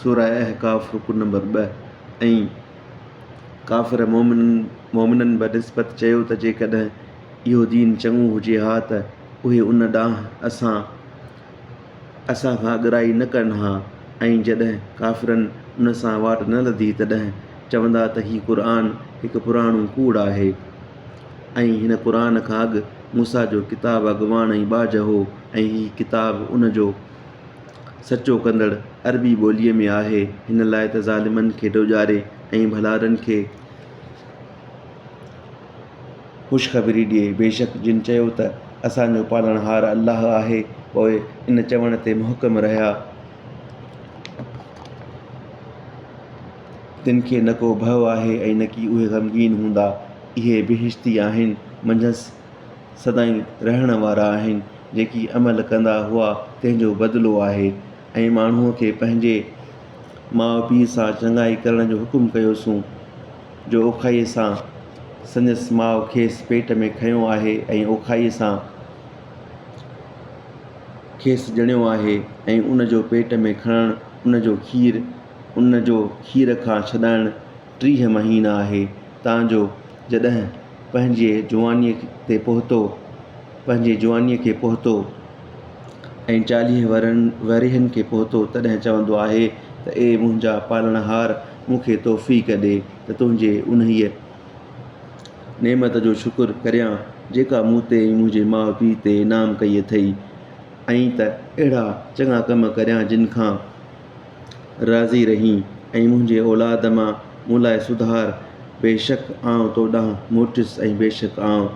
سورة احقاف رڪوع نمبر ٻه، ۽ ڪافر مؤمنن بنسبت چيو ته جيڪڏهن اهو دين چڱو هجي ها ته اهي ان ڏانهن اسان اسان کان اڳرائي نه ڪن ها ۽ جڏهن ڪافرن ان سان واٽ نه لڌي تڏهن چوندا ته هي قرآن هڪ پراڻو ڪوڙ آهي ۽ هن قرآن کان اڳ موسيٰ جو ڪتاب اڳواڻ ۽ ٻاجهه هو ۽ هي ڪتاب ان جو سچو ڪندڙ عربي ٻوليء ۾ آهي، هن لاء ته ظالمن کي ڊوڄاري ۽ ڀلارن کي خوشخبري ڏئي. بيشڪ جن چيو ته اسان جو پالڻهار الله آهي، پوء ان چوڻ تي محڪم رهيا، تن کي نه ڪو ڀئو آهي ۽ نه ڪي اهي غمگين هوندا. اهي بهشتي آهن، منجهس سدائين رهڻ وارا آهن، جيڪي عمل ڪندا هئا تنهن جو بدلو آهي ۽ ماڻهوء کي پنهنجي ماء پيء سان چڱائي ڪرڻ جو حڪم ڪيوسون، جو اوکائيء سان سندس ماء کيس پيٽ ۾ کنيو آهي ۽ اوکائيء سان کيس ڄڻيو آهي ۽ ان جو پيٽ ۾ کڻڻ ان جو کير ان جو کير کان ڇڏائڻ ٽيهه مهينا آهي تان جو جڏهن پنهنجي جوانيء تي پهتو پنهنجي جوانيء کي پهتو ۽ چاليهه ورهن ورهين کي پهتو تڏهن چوندو آهي ته اي منهنجا پالڻهار مون کي توفيق ڏي ته تنهنجي انهيء نعمت جو شڪر ڪريان جيڪا مون تي ۽ منهنجي ماء پيء تي انعام ڪئي اٿئي ۽ ته اهڙا چڱا ڪم ڪريان جن کان راضي رهين ۽ منهنجي اولاد مان مون لاء سڌار، بيشڪ آئون تو ڏانهن موٽيس ۽ بيشڪ آئون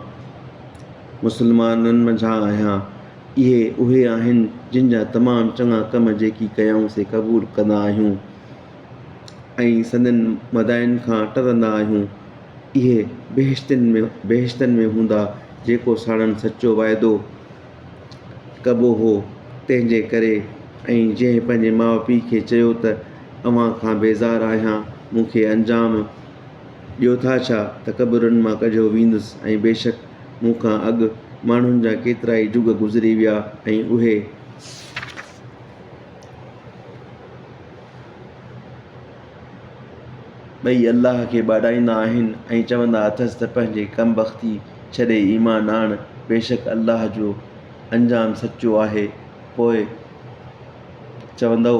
مسلمانن منجهان آهيان. اهي اهي آهن جن جا تمام چڱا ڪم جيڪي ڪيائون سي قبول ڪندا آهيون ۽ سندن مدائن کان ٽرندا آهيون. اهي بهشتن ۾ بهشتن ۾ هوندا جيڪو ساڻن سچو وعدو ڪبو هو، تنهن جي ڪري ۽ جنهن پنهنجي ماء پيء کي چيو ته اوهان کان بيزار آهيان، مون کي انجام ڏيو ٿا ڇا ته قبرن مان ڪڍيو ويندس ۽ بيشڪ مون کان اڳ ماڻهن جا ڪيترائي جڳ گذري ويا ۽ اهي ٻئي الله کي ٻاڏائيندا آهن ۽ چوندا اٿس ته پنهنجي ڪم بختي ڇڏي ايمان آڻ، بيشڪ الله جو انجام سچو آهي، پوء چوندو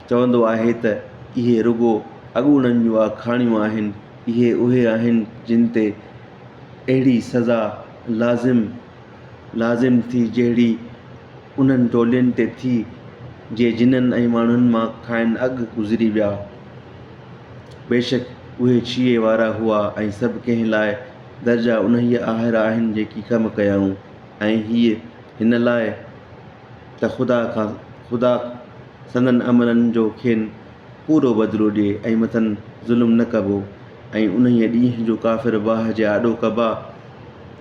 چوندو آهي ته اهي رڳو اڳوڻن جون آکاڻيون آهن، اهي اهي آهن جن تي اهڙي سزا لازم لازم ٿي جهڙي انهن ٽولين تي ٿي جي جنن ۽ ماڻهن مان کانئن اڳ گذري ويا. بيشڪ اهي ڇيهي وارا هئا ۽ سڀ ڪنهن لاء درجا انهيء آهر آهن جيڪي ڪم ڪيائون ۽ هيء هن لاء ته خدا کان خدا سندن عملن جو کين پورو بدلو ڏئي ۽ مٿن ظلم نه ڪبو ۽ انهيء ڏينهن جو ڪافر باه جي آڏو ڪبا.